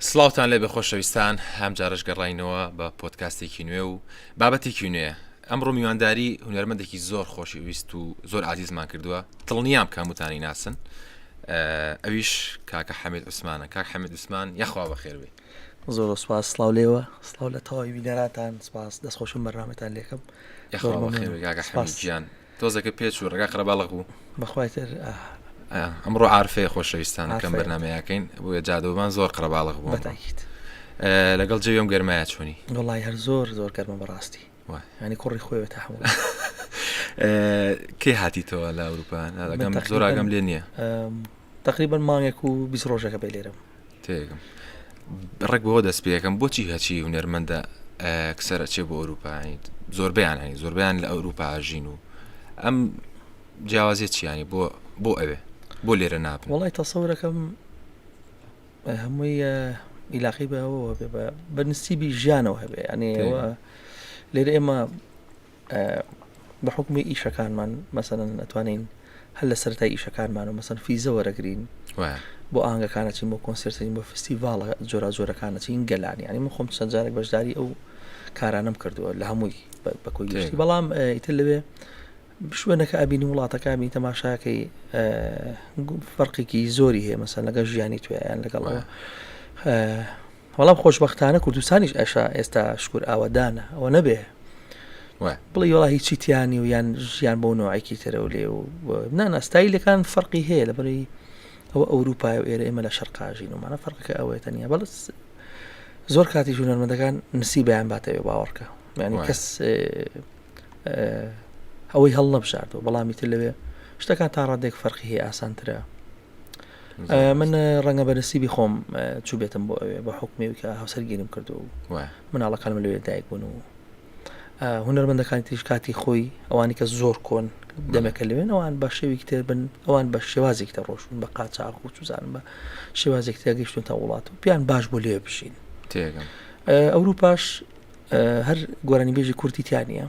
سڵاوتان لێبێ خۆشەویستان هەم جارش گەڕینەوە بە پۆتکاستێکی نوێ و بابەتێکی نوێ ئەمڕۆ میوانداری هونەرمەندێکی زۆر خۆشی ویست و زۆر عزیزمان کردووە دڵنیام کاموتانی ناسن ئەویش کاکە حەمید عوسمانە کاک حەمید عوسمان یاخوا بە خێروێ زۆر سپاس سلااو لێوە سلااو لە تەواوی بینەراتان سپاس دەستخۆشم بەرنامەتان لێکم گیان تۆزەکە پێ چوو ڕێگا قەرەباڵغ بوو. بەخوای تر ئاه. ئەمڕۆ عارفەیە خۆشەویستان کەم بەرنامەی ئەکەین بۆیە جادەوەمان زۆر قەرەباڵغ بوو. بەتاکید. لەگەڵ جەوی ئەم گەرمایە چۆنی؟ وەڵای هەر زۆر زۆر گەرمە بەڕاستی. وای. یانی کوڕی خۆیەوە تەحموول ئەکا. کەی هاتیتەوە لە ئەوروپا؟ زۆر ئاگام لێ نییە. تەقریبەن مانگێک و بیست ڕۆژەکە بێ لێرەم تێگەم ڕێک بەوە دەست پێەکەم بۆچی هەچی هونەرمەندە کسەرە چێ بۆ ئەوروپایین زۆربیان هەین زۆربیان لە ئەوروپا ژین و ئەم جیاوازیە چیانی بۆ بۆ ئەوێ بۆ لێرە نابن وڵی تەسەورەکەم هەمووی ئیلاقی بەەوە بە نسیبی ژیانەوە هەبێ ئەنێەوە لێرە ئێمە بە حکومی ئیشەکانمان مەسەن ئەتوانین هەر لە سەرای ئیشەکانمان و مەسەن فیزە وەرەگرین بۆ ئاهنگەکانەچین بۆ کۆنسرتین بۆ فستیڤالە جۆرا جۆرەکانەچین گەلانی ینی من خۆم چەند جارێک بەشداری ئەو کارانم کردووە لە هەمووی بەکۆی گەشتی بەڵام ئیتر لەوێ شوێنەکە ئەبینی وڵاتەکە بین تەماشاکەی فەرقێکی زۆری هەیە مەسەن لەگە ژیانی توێیان لەگەڵەوە بەڵام خۆشبەختانە کوردستانیش ئەشا ئێستا شکور ئاوەدانە ئەوە نەبێ بڵی وڵا هیچی تیانی و یان ژیان بۆ نوعێکی ترە و لێ و ناناستایلەکان فەرقی هەیە لە بەری ئەوە ئەوروپای و ئێرە ئێمە لە شەرقاژین و مانە فەرقەکە ئەوەیە تەنیا بەڵس زۆر کاتی ژوونەرمەندەکان نسی بەیان باتەوێ باوەڕکە یعنی کەس ئەوەی هەڵ نەبژاردەوە بەڵامی تر لەوێ شتەکان تا ڕادێک فەرقی هەیە ئاسانترە من ڕەنگە بەرسیبی خۆم چوبێتم بۆ ئەوێ بە حکومێک کە هەوسەر گیرم کردو مناڵەکانم لەوێ دایک بوون و هونەرمەندەکان تریش کاتی خۆی ئەوانی کە زۆر کۆن دەمەکە لەوێن ئەوان بە شێوێکی تر بن ئەوان بە شێوازێک تە ڕۆشتون بە قاچاق و چزانم بە شێوازێک تێگەیشتون تا وڵات و پیان باش بۆ لێ بشین ئەوروپاش هەر گۆرانی بێژی کورتیتیانە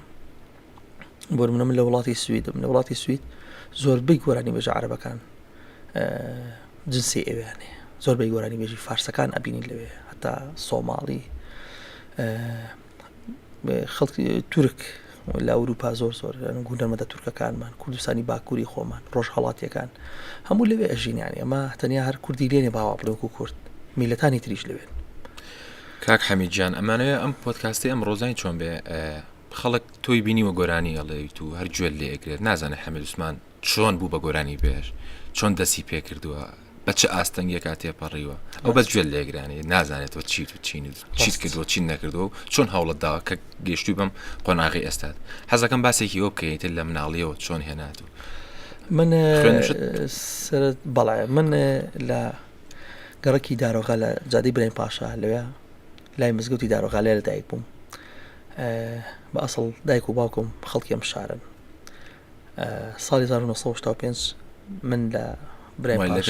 بۆ منە من لە وڵاتی سویدم لە وڵاتی سوید زۆر بی گۆرانی بەژە عربەکان جنسی ئەویانێ زۆر بی گۆرانی بێژی فارسەکان ئەبینی لەوێ هەتا سۆماڵی خەڵکی تورک لە ئەوروپا زۆر زۆر گوندەرمەدە تورکەکانمان کوردستانی باکووری خۆمان ڕۆژهڵاتیەکان هەموو لەوێ ئەژینیانی ئەمە تەنیا هەر کوردی لێنێ باوا بڵێک و کورد میلەتانی تریش لەوێن کاک حەمیجان ئەمانەیە ئەم پۆتکاستی ئەم ڕۆزانی چۆن بێ خەڵک تۆی بینیوە گۆرانی ئەڵێیت و هەر گوێت لێ ئەگرێت نازانێت حەمید عوسمان چۆن بوو بە گۆرانی بێژ چۆن دەستی پێ کردووە بە چ ئاستەنگێکا تێپەڕیوە ئەو بەس گوێت لێگرانی نازانێتەوە چیت و چین و چیت کردووە چین نەکردو چۆن هەوڵت داوە کە گەشتوی بم قۆناغی ئێستاد حەزەکەم باسێکی ئەو بکەیت لە مناڵیەوە چۆن هێنات و من سرت بەڵێ من لە گەڕکی دارۆغە لە جادی برای پاشا لەوێ لای مزگەوتی دارۆغالێ لە دایک بووم بە ئەسڵ دایک و باوکم خەڵکی ئەم شارن ساڵی 1995 من لە برایدانی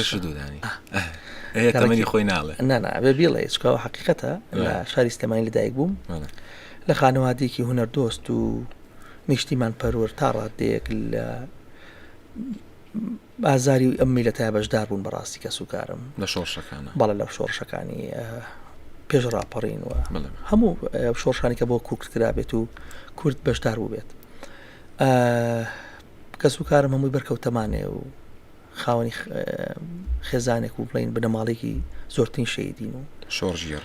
تەمەنی خۆی ناڵێ نابێ بیڵێ چکەوە حقیقەتە لە شاری سلێمانی لە دایک بووم لە خانەوادێکی هوەر دۆست و نیشتیمان پەرۆر تا ڕادێک لە بازاری ئەم میلەتە بەشدار بوون بەڕاستی کەس و کارم لە شۆڕشەکانە بەڵێ لە شۆڕشەکانی پێش ڕاپەڕین و هەموو شۆڕشانی کە بۆ کورد کرابێت و کورد بەشدار بووبێت کەس و کارم هەمووی بەرکەوتەمانێ و خاوەنی خێزانێک و بڵین بنەماڵێکی زۆرترین شەیدین و شۆڕژێڕ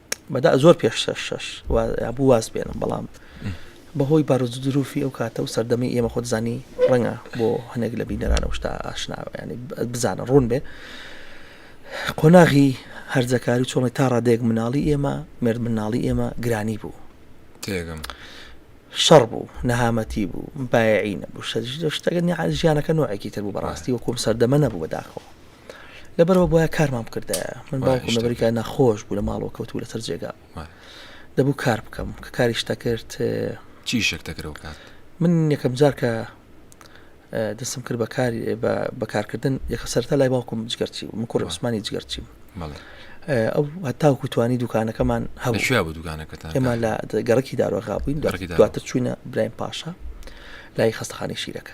بەدا زۆر پێش شەش شەش بوو واز بێنم بەڵام بەهۆی بارودروفی ئەو کاتە و سەردەمی ئێمە خۆتزانی ڕەنگە بۆ هەنێک لە بینەرانەوە شتا ئاشناوە ینی بزانە ڕوون بێ قۆناغی هەرزەکاری چۆڵی تا ڕادێک مناڵی ئێمە مرد مناڵی ئێمە گرانی بوو تێگەم شەڕ بوو نەهامەتی بوو بایعی نەبوو شتەکە ژیانەکە نوعێکی تر بوو بەڕاستی وەکوم سەردەمە نەبوو بەداخەوە لەبەرەوە بۆە کارمان بکردایە من باوکم لە بەریکە نەخۆش بوو لە ماڵەوە کەوتو لەسەر جێگا دەبوو کار بکەم کە کاریش دەکرد چی شک دەکرەوە کات من یەکەم جار کە دەستم کرد بەکاری بەکارکردن یەکە سەرتا لای باوکم جگەرچی و من کوڕ عوسمانی جگەرچی ئەو هەتاوکو توانی دوکانەکەمان هەشیا بە دوکانەکەتان ئێمە لە گەڕکی داروەغا بووین دواتر چوینە برایم پاشا لای خستخانی شیرەکە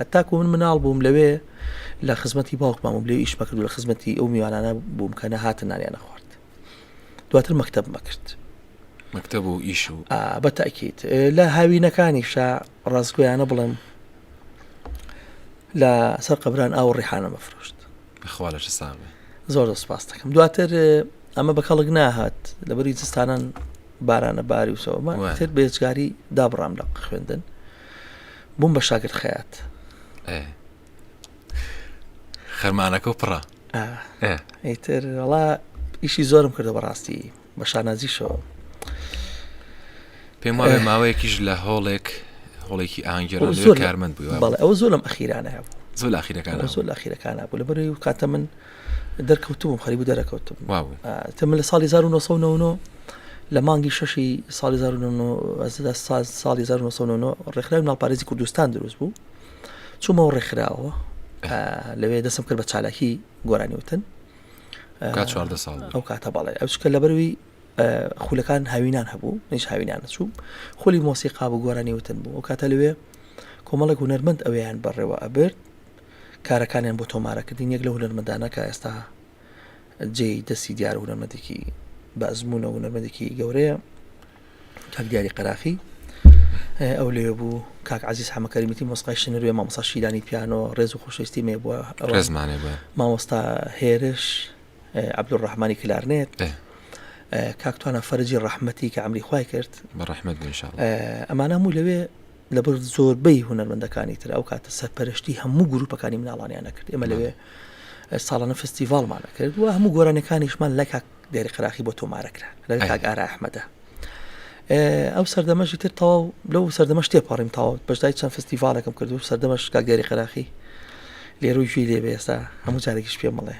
هەتاکو من مناڵ بووم لەوێ لە خزمەتی باوکمان بووم لێ ئیشمە کرد لە خزمەتی ئەو میوانانە بووم کە نەهاتن نانیانە خوارد دواتر مەکتب مەکرد مەکتب و ئیش و بە تاکیت لە هاوینەکانی شا ڕاستگویانە بڵێم لە سەر قبران ئاو ڕیحانە مەفرۆشت بەخوا لە ساڵ زۆر سپاس دەکەم دواتر ئەمە بە کەڵک ناهات لە بەری زستانان بارانە باری وسەوەمە تر بێزگاری دابڕام لە خوێندن بووم بە شاگرد خەیات خەرمانەکە و پڕە ئەیتر وڵا ئیشی زۆرم کردو بەڕاستی بە شانازیشەوە پێم وایە ماوەیەکیش لە هۆڵێک هۆڵێکی ئاهنگگەرە زۆر کارمەند بوو بەڵێ ئەو زۆر لەم ئەخیرانە بوو زۆر ئاخیرەکان زۆر ئاخیرەکانە بوو لە بەروی کاتە من دەرکەوتبووم خەریبوو دەرەکەوتم تە من لە ساڵی 1990 لە مانگی شەشی ساڵی 1970 ساڵی 1990 ڕێکخراوی ناپارێزی کوردستان دروست بوو چوومەوە ڕێکخراوە لەوێ دەسم کرد بە چالاکی گۆرانیوتن چواردە ساڵ ئەو کاتە باڵێ ئەوچکە لەبەروی خولەکان هاوینان هەبوو نش هاوینان چوو خولی مۆسیقا بوو گۆرانی وتن بوو ئەو کاتە لەوێ کۆمەڵێک هوەرمەند ئەویان بەڕێوە ئەبرد کارەکانیان بۆ تۆمارە کردین یەک لەو هونەرمەندانە کە ئێستا جێی دەستی دیار و هونەرمەندێکی بە ئەزمونە و هونەرمەندێکی گەورەیە کاک دیاری قەراخی ئەو لێ بوو کاک عزیز حەمەکەریمیتی مۆسقای شنروێ مامۆسا شیرانی پیانۆ ڕێز و خۆشەویستی مێ بووە ڕێزمانێ بووە مامۆستا هێرش عبدڕحمانی کلارنێت کاکتوانە فەرجی ڕەحمەتی کە ئەمری خی کرد بە ڕەحمەت ئەمانە موو لەوێ لەبەر زۆربەی هونەرمەندەکانی تر ئەو کاتە سەرپەرشتی هەموو گروپەکانی مناڵانیان نەکرد ئێمە لەوێ ساڵانە فستیڤالمان نەکرد و هەموو گۆرانەکانیشمان لە کاک دێری قراخی بۆ تۆمارەکرا لە کاک ئارا ئەحمەدە ئەو سەردەمەشی تر تەواو لەو سەردەمەش تێپەڕیم تاوت بەشدای چەند فستیڤالەکەم کرد و سەردەمەش کاک دێری قراخی لێرو گوێی لێ بێستا هەموو جارێکیش پێ مڵێ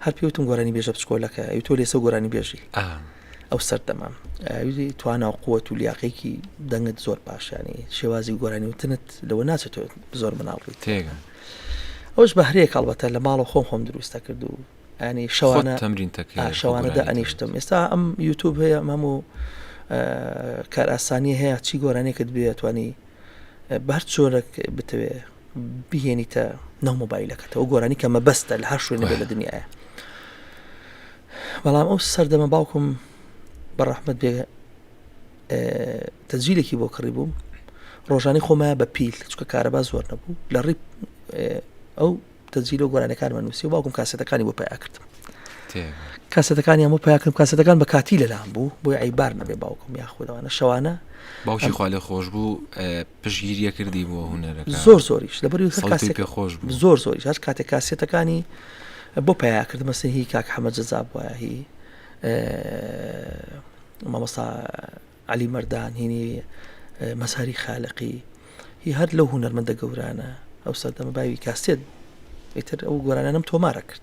هەر پێ وتم گۆرانی بێژە بچکۆلەکە ئەوی تۆ لێسە گۆرانی بێژی ئەو سەردەمە ئەوی توانا و قووەت و لیاقێکی دەنگت زۆر باشیانی شێوازی گۆرانی وتنت لەوە ناچێت تۆ زۆر مناڵ بیت تێگە ئەوش بەهرەیە کاڵبەتە لە ماڵە خۆم خۆم دروستە کرد و ئەنی شەوانە تەمرین شەوانەدا ئەنیشتم ئێستا ئەم یوتوب هەیە ئەمەم و کار ئاسانی هەیە چی گۆرانێکت بێتوانی بەر چۆرەک بتەوێ بهێنیتە ناو مۆبایلەکەتەوە گۆرانی کە مەبەستە لە هەر شوێنە لە دنیاە بەڵام ئەو سەردەمە باوکم بە ڕەحمت بێ تەجیلێکی بۆ کڕی بووم ڕۆژانی خۆمە بە پیل چکە کارەبا زۆر نەبوو لە ڕی ئەو تەجیل و گۆرانەکانمە نووسی و باوکم کاسەتەکانی بۆ پیا کردم کاسەتەکانی هەموو پیاکرم کاسەتەکان بە کاتی لەلام بوو بۆی عیبار نەبێ باوکم یاخودەوانە شەوانە باوکی خوا لە خۆش بوو پشگیریە کردی بۆ هوەرەکە زۆر زۆریش لەبەر پێ خۆش زۆر زۆری هەر کاتێک کاسێتەکانی بۆ پیاکردمە سهی کاک حەمە جەزاب وایە هی مامۆستا علی مردان هینی مەساری خالقی هی هەر لەو هوەرمەندە گەورانە ئەو سەردەمە باوی کاسێت ئیتر ئەو گۆرانانم تۆمارە کرد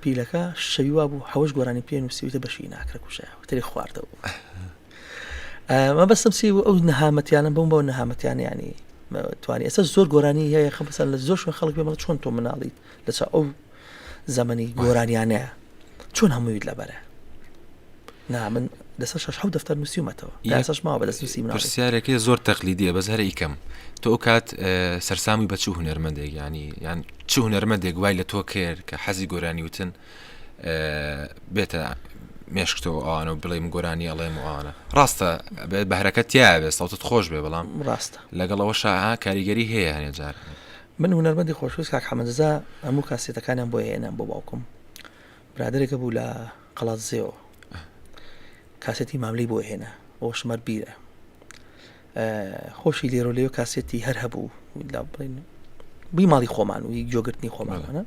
پیلەکە شەوی وا بوو حەوش گۆرانی پێ نووسیوتە بەشی ناکرە کوژایەوە تری خواردەوە ئەمە بەسم سی بوو ئەو نەهامەتیانە بم بۆ نەهامەتیان ینی توانانی ئێستا زۆر گۆرانی هەیە خە بەسەر لە زۆر شوێن خەڵک پێمە چۆن تۆ مناڵیت لەسا ئەو زەمەنی گۆرانیانەیە چۆن هەموویت لەبەرە نا من لەسەر شەش حەوت دەفتەر نووسیومەتەوە تا ئێستاش ماوە بەدەست نووسی مناڵی. پرسیارێکێ زۆر تەقلیدییە بەس هەرە ئیکەم تۆ ئەو کات سەرسامی بە چوو هونەرمەندێک ینی یان چوو هونەرمەندێک وای لە تۆ کرد کە حەزی گۆرانی وتن بێتە مێشکتەوە ئەوانە و بڵێم گۆرانی ئەڵێم وانە ڕاستە بەهرەکە تیا بێ سەڵتت خۆش بێ بەڵام ڕاستە لەگەڵەوە شاها کاریگەری هەیە هەنێ جار من هونەرمەندی خۆشویست کاک حەمەزا هەموو کاسێتەکانیان بۆ هێنان بۆ باوکم برادەرێک هەبوو لە قەڵادزێوە کاسێتی ماملەی بۆ هێنا ئەو شمەر بیرە خۆشی لێرۆ لێو کاسێتی هەر هەبوو لا بڵین بی ماڵی خۆمان و جۆگرتنی خۆمانە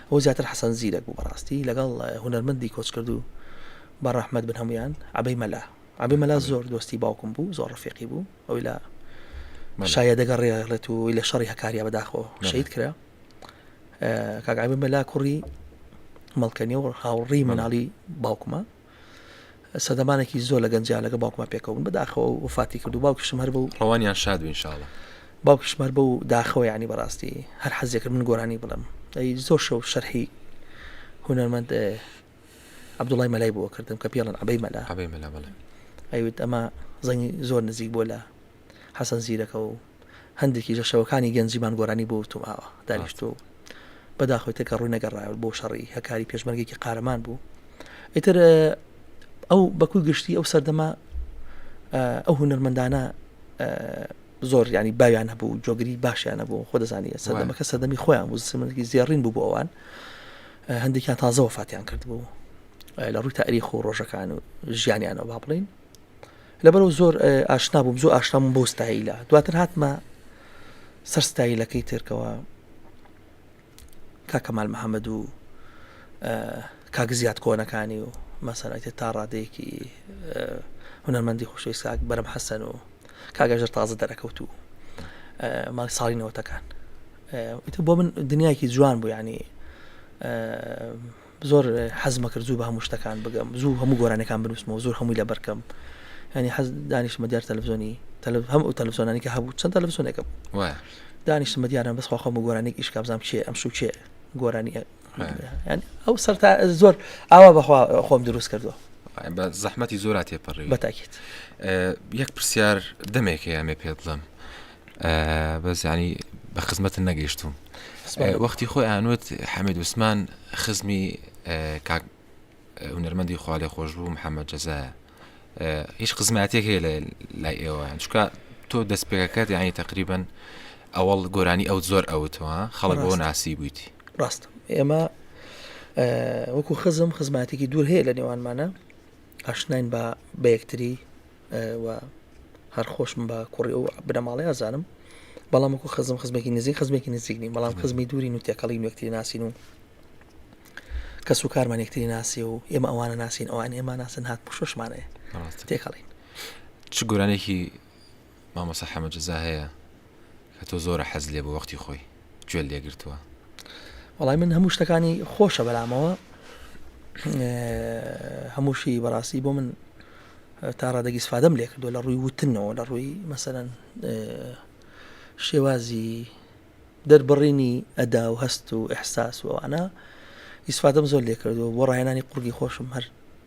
ئەو زیاتر حەسەن زیرەک بوو بەڕاستی لەگەڵ هوەرمەندی کۆچ کردو بە ڕەحمەت بن هەمویان عبەی مەلا عبی مەلا زۆر دۆستی باوکم بوو زۆر ڕفێقی بوو ئەوی لە شایە دەگەڕێڵێت و لە شەڕی هەکاریا بەداخۆ شەید کرا کاک عەبێ مەلا کوڕی مەڵکەنی و هاوڕی مناڵی باوکمە سەدەمانێکی زۆر لە گەنجیا لەگە باوکمە پێکەون بەداخەوە وفاتی کرد و باوکیشم هەر بوو ڕەوانیان شاد بینشاڵە باوکیشمەر بە و داخەوە ینی بەڕاستی هەر حەزێکرد من گۆرانی بڵم ئەی زۆر شەو شەرحی هونەرمەند عبدوڵای مەلای بووە کردم کە پێڵن عبەی مەلا ئەوێت ئەمە زەنگی زۆر نزیک بۆ لە حەسەن زیرەکە و هەندێکیش لە شەوەکانی گەنجیمان گۆرانی بۆ وتوم ئاوە دانیشتووە و بەداخەوەی تەکە ڕووی نەگەڕایەوە بۆ شەڕی هەکاری پێشمەرگێکی قارەمان بوو ئیتر ئەو بەکوی گشتی ئەو سەردەما ئەو هونەرمەندانە زۆر ینی باویان هەبوو جۆگری باشیان نەبوو خۆ دەزانانی سەردەمەکە سەردەمی خۆیان بوو سمەکی زێڕین بوو بۆ ئەوان هەندێکیان تازەوە فاتیان کرد بوو لە ڕووی تاریخ و ڕۆژەکان و ژیانیانەوە با بڵین لەبەرو زۆر ئاشنا بووم زۆر ئاشنابووم بۆ ستایلە دواتر هاتمە سەر ستایلەکەی ترکەوە کاکەمال محەممەد و کاگزیات کۆنەکانی و مەسەرەتی تا ڕادەیەکی هونەرمەندی خۆشەویست کاک بەرم حەسەن و کاگەژر تازە دەرەکەوت و ماڵ ساڵی نەوەتەکان بۆ من دنیایکی جوان بوو ینی زۆر حەزمەکرد زوو بە هەموو شتەکان بگەم زوو هەموو گۆرانەکان بنووسمەوە زۆر هەمووی لەبەرکەم ینی حەز دانیشتمە دیار تەلفزۆنی تەلف هەم و تەلفزۆنانی کە هەبوو چەند تەلفزۆنێکە دانیشتمە دیاران بەس خۆخۆم و گۆرانێک ئیش کابزام چێ ئەم شو چێ گۆرانی ئەو سەر تا زۆر ئاوا بەخوا خۆم دروست کردو بە زەحمەتی زۆرا تێپەڕی بەتاکیت یەک پرسیار دەمێکەیە مێ پێ بڵم بەس ینی بە خزمەتن نەگەیشتوم وەختی خۆی ئانوت حەمید وسمان خزمی کاک هونەرمەندی خوالێ خۆش بوو محەممەد جەزایە هیچ خزماتێک هەیە لە لای ئێوەیان چکە تۆ دەست پێەکەت یانی تقریبن ئەوەڵ گۆرانی ئەو زۆر ئەوتەوە خەڵک بۆ ناسی بوویتی ڕاست ئێمە وەکو خزم خزماتێکی دوور هەیە لە نێوانمانە ئاشناین بە بەیەکتری و هەر خۆشم بە کوڕی ئەو بنەماڵەی ئازانم بەڵام وەکو خزم خزمێکی نزیک خزمێکی نزیک نیم بەڵام خزمی دوورین و تێکەڵی نوێکتری ناسین و کەس و کارمان یەکتری ناسی و ئێمە ئەوانە ناسین ئەوان ئێمە ناسن هات پشوشمانەیە تێکەڵین چ گۆرانێکی مامۆسا حەمەجززا هەیە کە تۆ زۆرە حەز لێ بۆ وەختی خۆی گوێت لێ گرتووە وەڵای من هەموو شتەکانی خۆشە بەلامەوە هەمووشی بەڕاستی بۆ من تا ڕادەگی سفادەم لێ کردو لە ڕووی وتنەوە لە ڕووی مەسەرەن شێوازی دەربڕینی ئەدا و هەست و ئەحساس وانە ئیسفادەم زۆر لێ کردو بۆ ڕایەنانی قوڕگی خۆشم هەر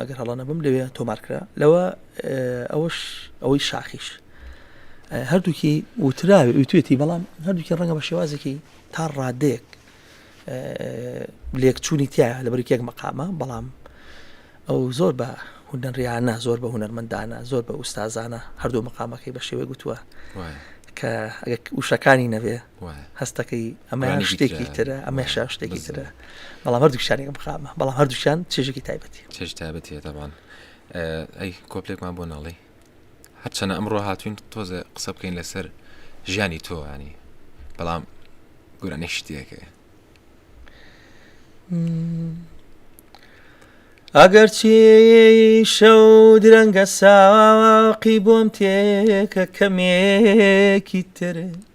ئەگەر هەڵە نەبم لەوێ تۆمار کرا لەوە ئەوش ئەوەی شاخیش هەردووکی وتراوی وتێتی بەڵام هەردووکی ڕەنگە بە شێوازێکی تا ڕادێک لێکچوونی تیا لە بەرکێک مەقامە بەڵام ئەو زۆر بە هونەریانە زۆر بە هونەرمەندانە زۆر بە ئوستازانە هەردوو مەقامەکەی بە شێوەی گوتووە کە وشەکانی نەبێ هەستەکەی ئەمەیان شتێکی ترە ئەمەشا شتێکی ترە بەڵام هەردوو شارێک بخامە بەڵام هەردووشان چێژێکی تایبەتی چێژ تایبەتیە دەبان ئەی کۆپلێکمان بۆ ناڵی هەرچەنە ئەمڕۆ هاتوین تۆزە قسە بکەین لەسەر ژیانی تۆوانی بەڵام گورانی شتێکە ئەگەر چی شەو درەنگە ساقی بۆم تێکە کەمێکی ترێت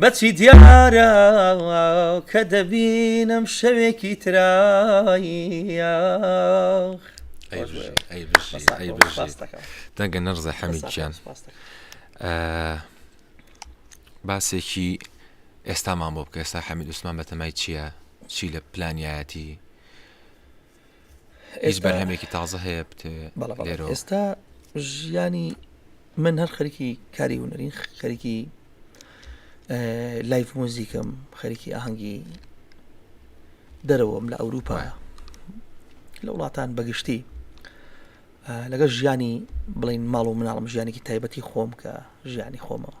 بەچی دیارە کە دەبینم شەوێکی ترایاخ دەنگە نەرزە حەمیدیان باسێکی ئێستامان بۆ بکە ئێستا حەمید عوسمان بەتەمای چییە چی لە پلانیایەتی هیچ بەرهەمێکی تازە هەیە بتێ ئێستا ژیانی من هەر خەرکی کاری هوەرین خەرکی لایف موزیکم خەرکی ئاهەنگی دەرەوەم لە ئەوروپا لە وڵاتان بەگشتی لەگەڵ ژیانی بڵین ماڵ و مناڵم ژیانێکی تایبەتی خۆم کە ژیانی خۆمەوە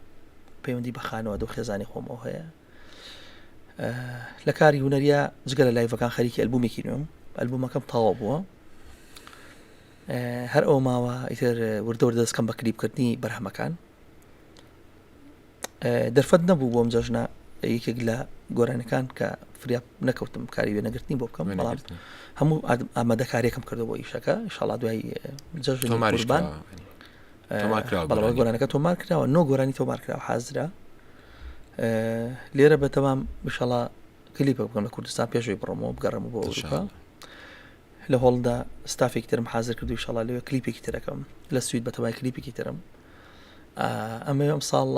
پەیوەندی بە خانەوە دو خێزانی خۆمەوە هەیە لە کاری هوەریا جگە لە لایڤەکان خەریکی ئەلبومێکی نوێم ئەلبومەکەم تاوا بووە هەر ئەو ماوە ئیتر وردەور دەستکەم بە کلیپکردنی بەرهەمەکان دەرفەت نەبوو بۆم جەژنە یەکێک لە گۆرانەکان کە فریا نەکەوتم کاری وێ نەگرتنی بۆ بکەم بەڵام هەموو ئامادەکارێکم کردو بۆ ئیشەکە شڵا دوای جەژنبان گۆرانەکە تۆمار کراوە نۆ گۆرانی تۆمار کراوە حازرە لێرە بەتەوام مشەڵا کلیپە بکەم لە کوردستان پێشوی بڕمەوە بگەڕم بۆ ئەوروپا لە هۆڵدا ستافێک ترم حاضر کردو شڵا لەوێ کلیپێکی ترەکەم لە سوید بەتەوای کلیپێکی ترم ئەمە ئەم ساڵ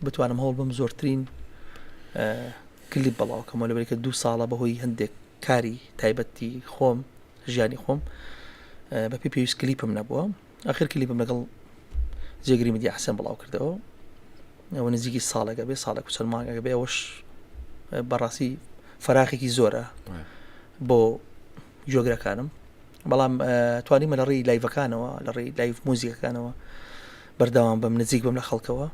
بتوانم هەوڵ بم زۆرترین کلیپ بەڵاوکەمەوە لەبێکە دوو ساڵە بەهۆی هەندێک کاری تایبەتی خۆم ژیانی خۆم بەپی پێویست کلیپم نەبووە ئاخر کلیپم لەگەڵ جێگری میدیا حسێن بڵاو کردەوە ئەوە نزیکی ساڵێکە بێ ساڵێک چەند مانگەکە بێ ئەوەش بەڕاستی فراخێکی زۆرە بۆ جۆگرەکانم بەڵام توانیمە لە ڕێی لایڤەکانەوە لە ڕێی لایف موزیکەکانەوە بەردەوام بەم نزیک بم لە خەڵکەوە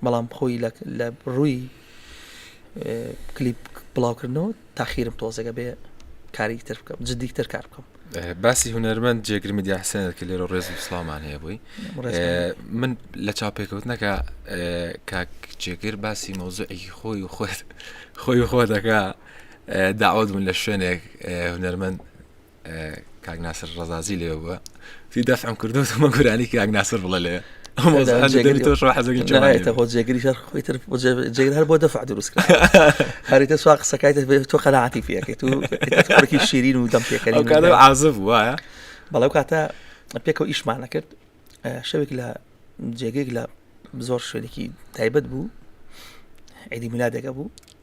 بەڵام خۆی لە ڕووی کلیپ بڵاوکردنەوە تاخیرم تۆزەگە بێ کاری تر بکەم جدی تر کار بکەم باسی هوەرمەند جێگرمی دیاسێنەر کە لێرە ڕێز و سلامان هەیە بووی من لە چاپێکەوتنەکە کاک جێگر باسی مەوزعێکی خۆی و خۆت خۆی خۆ دەکا داوت من لە شوێنێک هوەرمەند کاک ناسر ڕزازی لێ بووە سی دەفعم کردومە گورانی کاک ناسر بڵە لێ جێگری شەر خۆی تر جێگر هەر بۆ دەفع دروست هەریتە سوا قسەکای تۆ قەنەعاتی پێەکەیت و شیرین و دەم پێکەری عازب وایە بەڵێ کاتە پێکەوە ئیشمانە کرد شەوێک لە جێگەێک لە زۆر شوێنێکی تایبەت بوو عیدی میلادەکە بوو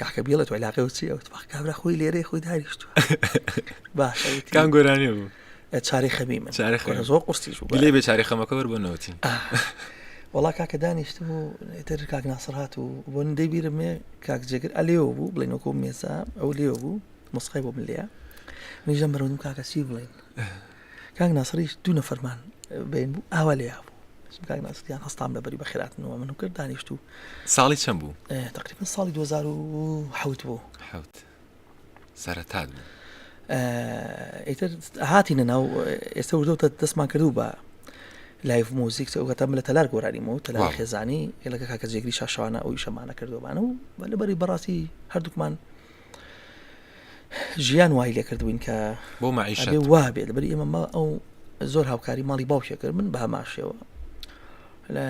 کاکە بیڵێت و علاقی و چیەوت بەخ کابرا خۆی لێرەی خۆی داریشتوە باشە وتی کام گۆرانی بوو ئە، چاری خەمی من چاری خەمی. وەرە زۆر قورسیش بوو گلەی بێ چاری خەمەکە وەر بۆ نەوتی وڵا کاکە دانیشتم و ئیتر کاک ناسر هات و بۆن دەبیرم مێ کاک جێگر ئەلێەوە بوو بڵێن وەکۆ مێسا ئەو لێەوە بوو مسخی بۆ بلەیە منیژە مرۆنم کاکە چی بڵێن کاک ناسریش دوو نەفەرمان بین بوو ئاوا لێ بوو کاک ناسریان هەستان بەبری بە خێراتنەوە من و کرد دانیشت و ساڵی چەند بوو تقریبا ساڵی 2010 بوو حوت سەرەتات بوو ئیتر هاتی نەناو ئێستا وردەوتە دەستمان کردو بە لایف موزیک ئەوگەتە لە تەلار گۆرانیم و تەلا خێزانی لەگە کاکە جێگری شاشوانە ئەوی شەمانە کردوبانە و بەلەبەری بەڕاستی هەردووکمان ژیان وای لێ کردبووین کە بۆ مەعیشە وا بێت بەری ئێمە مە ئەو زۆر هاوکاری ماڵی باوکێ کرد من باماشەوە لە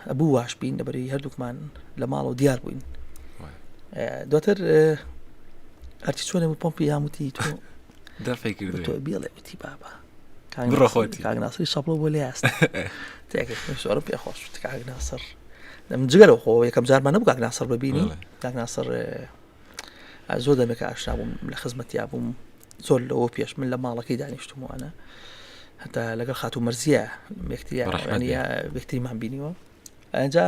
ئەبوو واش بین لەبەری هەردووکمان لە ماڵەوە دیار بووین دواتر هەرچی چۆنێ بوو پۆمپی یاموتی تۆ دەفێکی بڵێ وتی بابە بڕە خۆتی کاک ناسری شەپڵە بۆ لێ هەست زۆرم پێ خۆش کاک ناسر لەم جگەرە خۆ یەکەم جارمان نەبوو کاک ناسر ببینی کاک ناسر زۆر دەمێک ئاشنا بووم لە خزمەتیا بووم زۆر لەوە پێش من لە ماڵەکەی دانیشتموانە هەتا لەگەڵ خاتو مەرزیە مێکتریانیە بێکتریمان بینیوە ئەجا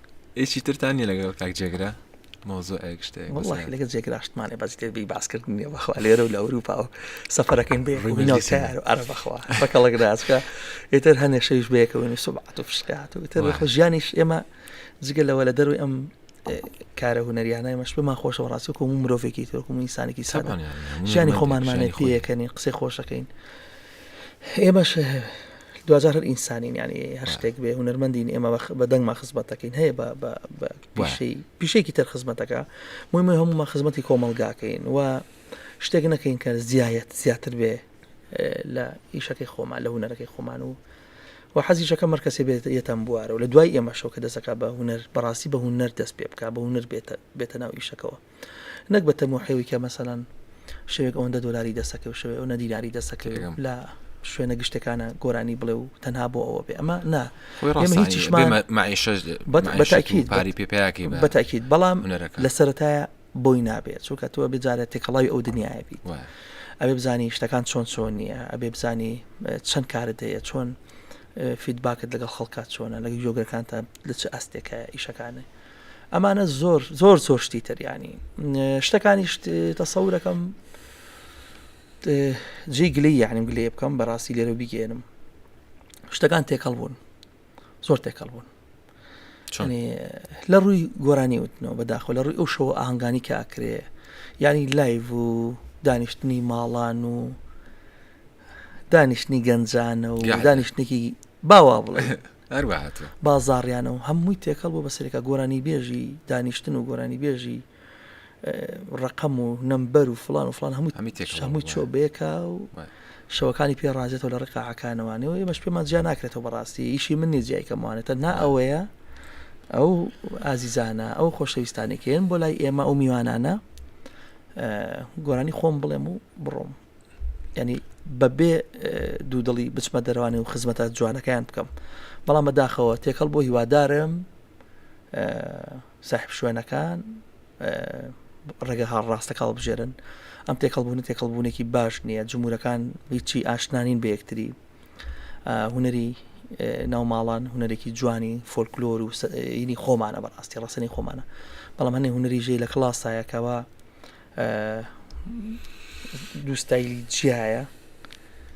ئێکی ترتان نیە لەگەڵ کاک جێگرە مۆزۆئەک شتێک وڵی لەگە جێگرا شتمانێ بەس دەبی باسکردن نیە بەخوا لێرە و لە ئەوروپا و سەفەرەکەین بێ ڕوینەوتار و ئەرە بەخوا بەکەڵک ناسکە ئێتر هەنێ شەویش بەیەکەوەین و سوبعات و فشقات و تر خۆ ژیانیش ئێمە جگە لەوە لە دەروی ئەم کارە هوەریانای مەش پێمان خۆشە ڕاستە کۆم مرۆڤێکی تۆکم ئینسانێکی سەدان ژیانی خۆمانمانێت پێەکەنی قسەی خۆشەکەین ئێمەش دواجار هەر ئینسانین ینی هەر شتێک بێ هونەرمەندین ئێمە بە دەنگمان خزمەتەکەین هەیە پیشەی پیشێکی تر خزمەتەکە مهمە هەمومان خزمەتی کۆمەلگاکەین و شتێک نەکەین کە زیایەت زیاتر بێ لە ئیشەکەی خۆمان لە هونەرەکەی خۆمان و و حەزیشەکە مرکزی بێت یەتەم بوارە و لە دوای ئێمەشەوە کە دەسەکە بە هونەر بەڕاستی بە هونەر دەست پێ بک بە هونەر بێتە بێتە ناو ئیشەکەەوە نەک بە تەموحێوی کە مەسەلەن شەوێک ئەوەندە دۆلاری دەسەکەوت شەوێ ئەو نەدیناری دەسەکەوێت تێگەم. لە شوێنە گشتەکانە گۆرانی بڵێ و تەنها بۆ ئەوە بێ ئەمە نا خۆی ئێمە ڕاستانە هیچیشمان بێمە معیشەش بەت- معیشەت و بەتاکید، پاری پێ پیاکەی بە بەتاکید بەڵام هونەرەکان. لە سەرەتایە بۆی نابێ چونکە تۆ بێجارە تێکەڵاوی ئەو دنیاە بیت وایە. ئەبێ بزانی شتەکان چۆن چۆن نییە ئەبێ بزانی اه، چەند کارت هەیە چۆن اه، فیدباکت لەگەڵ خەڵکات چۆنە لەگە یۆگەکانتە لە چ ئاستێکە ئیشەکانە ئەمانە زۆر زۆر زۆر شتی تر ینی شتەکانیش تەسەورەکەم جێ گلی یعنیم گلێ بکەم بەڕاستی لێرە بیگەێنم شتەکان تێکەڵ بوون زۆر تێکەڵ بوون لە ڕووی گۆرانی وتنەوە بەداخۆ لە ڕووی ئەو شەوە ئاهنگانی کە ئاکرێ ینی لایڤ و دانیشتنی ماڵان و دانیشتنی گەنجانە و دانیشتێکی باوا بڵێ هەروەهاتوە. بازاڕیانە و هەمووی تێکەڵ بووە بەسەرێکا گۆرانیبێژی دانیشتن و گۆرانیبێژی ڕەقەم و نەمبەر و فڵان و فڵان هەمووی چۆ بەیەکا و شەوەکانی پێ ڕازێتەوە لە ڕقا عکانەوانەوە ئێمەش پێمان جیا ناکرێتەوە بەڕاستی ئیشی من نیە جیای کەموانێتە نا ئەوەیە ئەو ئازیزانە ئەو خۆشەویستانێکێن بۆ لای ئێمە ئەو میوانانە گۆرانی خۆم بڵێم و بڕۆم ینی بەبێ دوودڵی بچمە دەروانێ و خزمەتە جوانەکەیان بکەم بەڵام بەداخەوە تێکەڵ بۆ هیوادارم ساحب شوێنەکان ڕێگە هاڵ ڕاستەکە هەڵبژێرن ئەم تێکەڵبوون تێکەڵبوونێکی باش نییە جمهورەکان هیچی ئاشنانین بە یەکتری هوەری ناوماڵان هوەرێکی جوانی فۆلکلۆر و ینی خۆمانە بەڕاستی ڕاستنی خۆمانە بەڵام هەنێ هوەری ژێ لە کلاسایەکەوە دووستایلی جیایە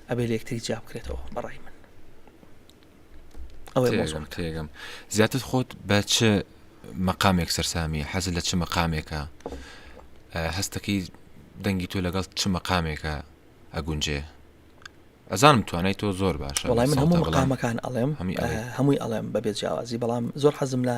ئەبێ لەکتری جیا بکرێتەوە بەڕای من ئەوەی مۆزم تێگەم زیاتر خۆت بە چ مەقامێک سەرسامی حەز لە چ مەقامێکە هەستەکەی دەنگی تۆ لەگەڵ چ مەقامێکە ئەگونجێ ئەزانم توانای تۆ زۆر باش وڵای من هەموو مەقامەکان ئەڵێم هەمووی ئەڵێم بەبێ جیاوازی بەڵام زۆر حەزم لە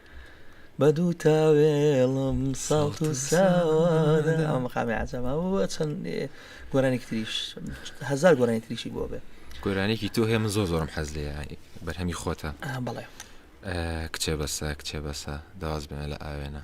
بە دوو تاوێڵم ساڵت و ساوانە ئەو مقامی عجەمە و چەند گۆرانێکی تریش هزار گۆرانی تریشی بۆ بێ گۆرانێکی تۆ هەیە من زۆر زۆرم حەز لێ بەرهەمی خۆتە بڵێ کچێ بەسە کچێ بەسە داواز بێنە لە ئاوێنە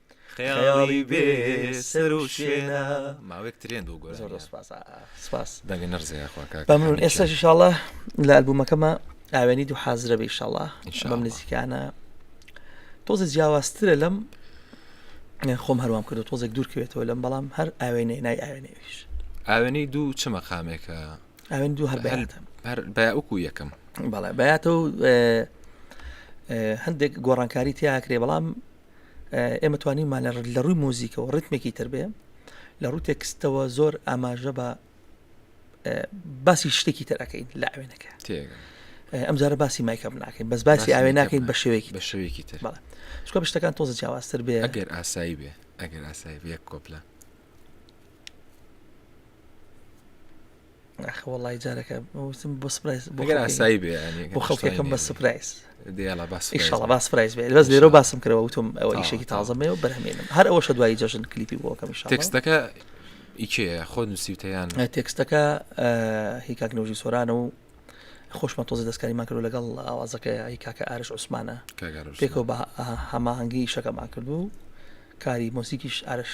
خەیاڵی بێ سەر و شوێنە ماوەێک ترێن دوو گۆر سپاس دەگە نەرزەیەخواکەمرون ئێستا شڵە لە ئەلبوومەکەمە ئاوێنی دوو حازرە بە شڵە بەم نزیکانە تۆزە جیاوازترە لەم خۆم هەروام کردو تۆزێک دوورکەوێتەوە لەم بەڵام هەر ئاوێنێ نای ئاوێنێویش ئاوێنەی دوو چ مەقامێکە ئاوێن دوو هەر بەکو یەکەم بەڵێ بەاتە هەندێک گۆڕانکاری تیاکرێ بەڵام ئێمە توانیمان لە ڕووی مۆزیکەوە ڕتمێکی تر بێ لە ڕوو تێکستەوە زۆر ئاماژە بە باسی شتێکی ترەکەین لە ئاوێنەکە ئەمجارە باسی مایکەم ناکەین بەس باسی ئاوێ ناکەین بە شێوەیەکی بە شێوەیەکی تر شکۆ شتەکان تۆزە جیاوازتر بێ ئەگەر ئاسایی بێ ئەگەر ئاسایی بێ کۆپلە ئاخ وەڵی جارەکە وتم بۆ سپرایز بۆ گەر ئاسایی بێ بۆ خەڵکەکەم بە سپرایز دێڵە باس ئیشڵە باس پرایز بێ بەس لێرە باسم کرەوە وتم ئەوە ئیشێکی تازەمێ و بەرهمێنم هەر ئەوەشە دوایی جەژن کلیپی بۆکەم تێکستەکە ئیکێ خۆ نووسیوتەیان تێکستەکە هیکاک نەوژی سۆرانە و خۆشمە تۆزی دەستکاریمان کرد لەگەڵ ئاوازەکە ئەی کاکە ئارش عوسمانە پێکەوە بە هەماهنگگی شەکەمان کردو کاری مۆسیکیش ئارش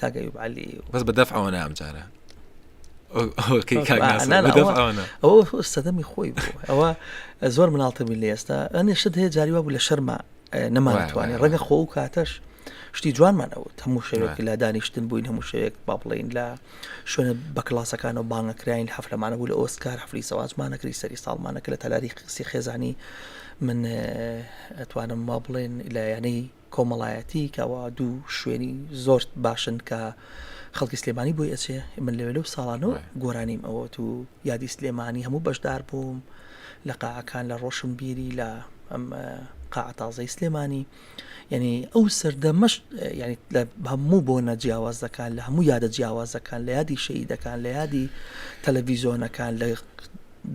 کاک ئەیوب عەلی بەس بە دەفع ئەوەنە ئەمجارە ئەو سەدەمی خۆی ئەوە زۆر مناڵتەبی لە ئێستا ئەنێ شت هەیە جاری وابوو لە شەرما نەمانتوانێت ڕەنگە خۆ و کاتەش شتی جوانمان ئەوت هەموو شەوێک لە دانیشتن بووین هەموو شەوێک با بڵین لە شوێنە بە کلاسەکان و بانگەکراین حفلەمانە بوو لە ئۆسکار حفلی سەوازمانەکری سەری ساڵمانەکە لە تەلاری قسی خێزانی من ئەتوانم ما بڵێن لایەنەی کۆمەڵایەتی کە ئەوە دوو شوێنی زۆر باشن کە خەڵکی سلێمانی بۆی ئەچێ من لەوێ لەو ساڵانەوە گۆرانیم ئەوەت و یادی سلێمانی هەموو بەشدار بووم لە قاعەکان لە ڕۆشن بیری لە ئەم قاعتازەی سلێمانی یعنی ئەو سەردەمەش ینی لە هەموو بۆ نە جیاوازەکان لە هەموو یادە جیاوازەکان لە یادی شەیدەکان لە یادی تەلەڤیزۆنەکان لە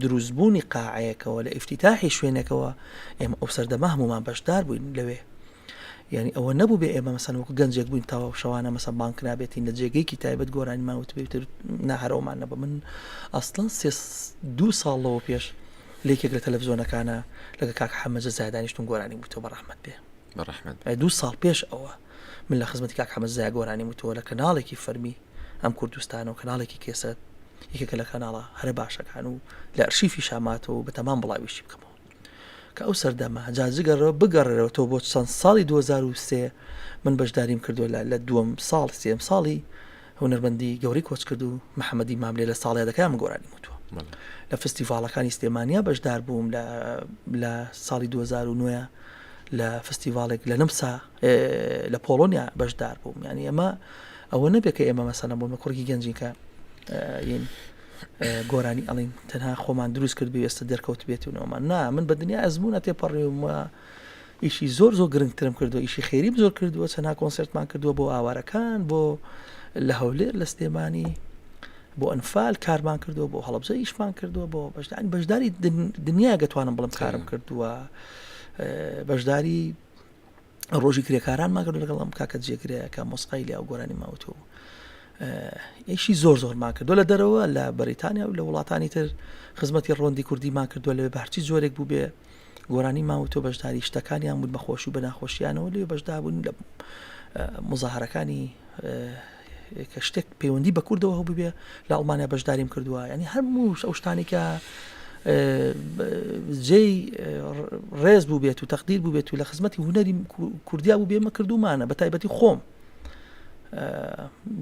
دروست بوونی قاعەیەکەوە لە ئیفتیتاحی شوێنەکەوە ئێمە ئەو سەردەمە هەمومان بەشدار بووین لەوێ یعنی ئەوە نەبوو بێ ئێمە مەسەن وەکو گەنجێک بووین تاوا شەوانە مەسە بانک نابێتین لە جێگەیەکی تایبەت گۆرانیمان وتبێتر ناهرەوەمان نەبە من ئەسڵەن دو ساڵ لەوە پێش لێکێک لە تەلەڤزۆنەکانە لەگە کاک حەمەجە زادانیشتون گۆرانی وتەوە بە ڕحمت بێ بە ڕحمت دو ساڵ پێش ئەوە من لە خزمەتی کاک حەمە زای گۆرانی وتەوە لە کەناڵێکی فەرمی ئەم کوردستان و کەناڵێکی کێسەت یەکێکە لە کەناڵە هەرە باشەکان و لە ئەرشیفی شاماتەوە بە تەمان بڵاویشی بکەمەوە کە ئەو سەردەمە جاجگەڕەوە بگەڕێرەوە تۆ بۆ چەند ساڵی 2023 من بەشداریم کردو لە لە دووەم ساڵ سێم ساڵی هونەرمەندی گەوری کۆچ کرد و محەممەدی ماملێ لە ساڵی دەکەم گۆرانی وتوە لە فستیڤالەکانی سلێمانیا بەشدار بووم لە لە ساڵی 2009 لە فستیڤالێک لە نمسا لە پۆڵۆنیا بەشدار بووم ینی ئەمە ئەوە نەبێت کە ئێمە مەسەلە بۆمە کوڕگی گەنجین کە ین گۆرانی ئەڵین تەنها خۆمان دروست کرد بێستە دەرکەوت بێتونەوەمان نا من بە دنیا ئەزمونە تێپەڕێومە ئیشی زۆر زۆر گرنگترم کردو ئیشی خێری زۆر کردووە چەنا کۆنسرتمان کردووە بۆ ئاوارەکان بۆ لە هەولێر لە سلێمانی بۆ ئەنفال کارمان کردووە بۆ هەڵبجە ئیشمان کردووە بۆ بەشدان بەشداری دنیا گەتوانم بڵم کارم کردووە بەشداری ڕۆژی کرێکاران ماگەر لەگەڵ ئەم کاکە جێگرەکە مۆسقای لە ئەو گۆرانی ماوتۆ ئیشی زۆر زۆرمان کردو لە دەرەوە لە بەریتانیا و لە وڵاتانی تر خزمەتی ڕۆندی کوردیمان کردو لەوێ بەرچی جۆرێک بوو بێ گۆرانی ماوتۆ بەشداری شتەکانیان بوون بەخۆش و بەناخۆشیانەوە لێ بەشدا بوون لە مزاهرەکانی کە شتێک پەیوەندی بە کوردەوە هەبوو بێ لە ئەڵمانیا بەشداریم کردووە ینی هەموو ئەو شتانی کە جێی ڕێز بوو بێت و تەقدیر بوو بێت و لە خزمەتی هوەری کوردیا بوو بێمە کردومانە بە تایبەتی خۆم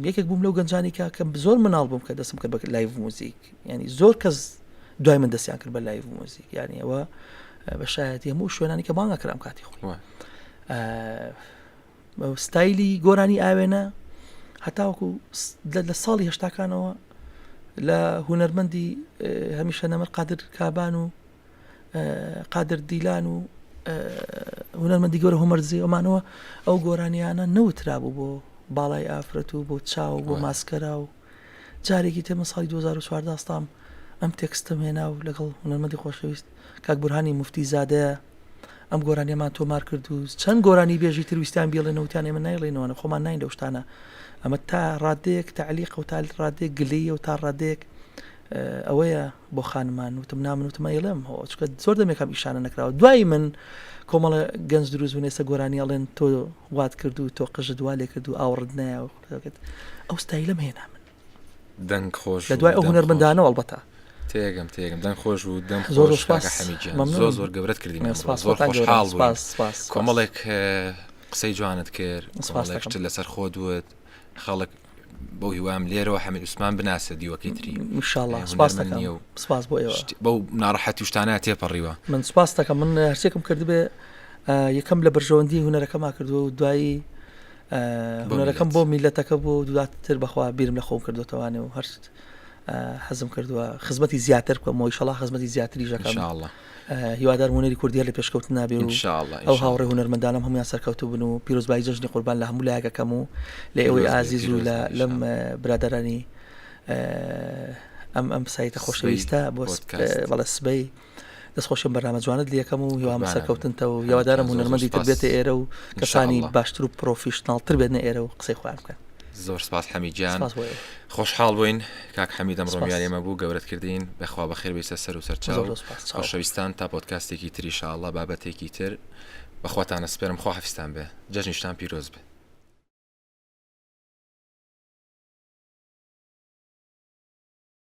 یەکێک بووم لەو گەنجانی کە کەم زۆر مناڵ بووم کە دەستم کرد بە لایڤ موزیک ینی زۆر کەس دوای من دەستیان کرد بە لایڤ موزیک یانیەوە بە شایەتی هەموو شوێنانی کە بانگەکرام کاتی خۆی ستایلی گۆرانی ئاوێنە هەتاوەکو لە ساڵی هشتاکانەوە لە هوەرمەندی هەمیشە نەمەر قادر کابان و قادر دیلان و هوەرمەندی گەۆرە هۆمەرزی ئەمانەوە ئەو گۆرانیانە نەوترابوو بۆ باڵای ئافرەت و بۆ چاو بۆ ماسکەرا و جارێکی تر من ساڵی دوو هەزار و چواردە هەستام ئەم تێکستەم هێنا و لەگەڵ هونەرمەندی خۆشەویست کاک بورهانی موفتی زادە ئەم گۆرانیەمان تۆمار کرد و چەند گۆرانی بێژی تر ویستیان بیڵێنەوە وتیان ئێمە نایڵێنەوەە خۆمان ناین لەو شتانە ئەمە تا ڕادەیەک تەعلیق و تا ڕادێک گلەیە و تا ڕادێک ئەوەیە بۆ خانمان وتم نامن وتمە ئێڵێم چکە زۆر دەمێکم ئیشانە نکراوە دوای من کۆمەڵە گەنج دروست بوون ئێستا گۆرانی ئەڵێن تۆ وات کرد و تۆ قژت وا لێ کرد و ئاوڕت نایە ئەو ستایلەم هێنا من دەنگ خۆش لە دوای ئەو هونەرمەندانە ئەڵبەتە تێگەم تێگەم دەنگ خۆش و دەم زۆر زۆر زۆر گەورەت کردین زۆر خۆشحاڵ کۆمەڵێک قسەی جوانت کرد سپاسێکشت لەسەر خۆ دوت خەڵک بۆ هیوام لێرەوە حەمی عوسمان بناسە دیوەکەی تری سپاس بۆ بەو ناڕەحەتی شتانە تێپەڕیوە من سپاس دەکەم من هەرسێکم کردبێ یەکەم لە بەرژەوەندی هوەرەکەما کردو دوایی هونەرەکەم بۆ میلەتەکە بۆ دواتر بەخوا بیرم لە خۆم کردوتەوانێ و هەرست حەزم کردووە خزمەتی زیاتر بکەمەوەی شەڵا خزمەتی زیاتری ژەکان هیوادار هوەری کوردیە لە پێشکەوت نابێ و ئەو هاوڕێ هوەرمەندانم هەمویان سەرکەوتو بن و پیرۆزبایی جەژنی قوربان لە هەموو لایەکەکەم و لە ئێوەی ئازیز و لە لەم برادرانی ئەم ئەم سایتە خۆشەویستە بۆ بەڵە سبەی دەست خۆشم بەرنامە جوانت لەکەم و هیوام سەرکەوتنتە و یاوادارم هونەرمەندی تر بێتە ئێرە و کەسانی باشتر و پرۆفیشنناڵتر بێنە ئێرە و قسەی خۆیان بکەن زۆر سپاس حەمیجان خۆشحاڵ بووین کاک حەمیدەم ڕۆمیان ئێمە بوو گەورت کردین بەخوا بە خێربیسە سەر و سەرچاوشەویستان تا پۆتکاستێکی تریشاءله بابەتێکی تر بەخواتانە سپێرم خۆ حفستان بێ جەژنیشتان پیرۆز بێ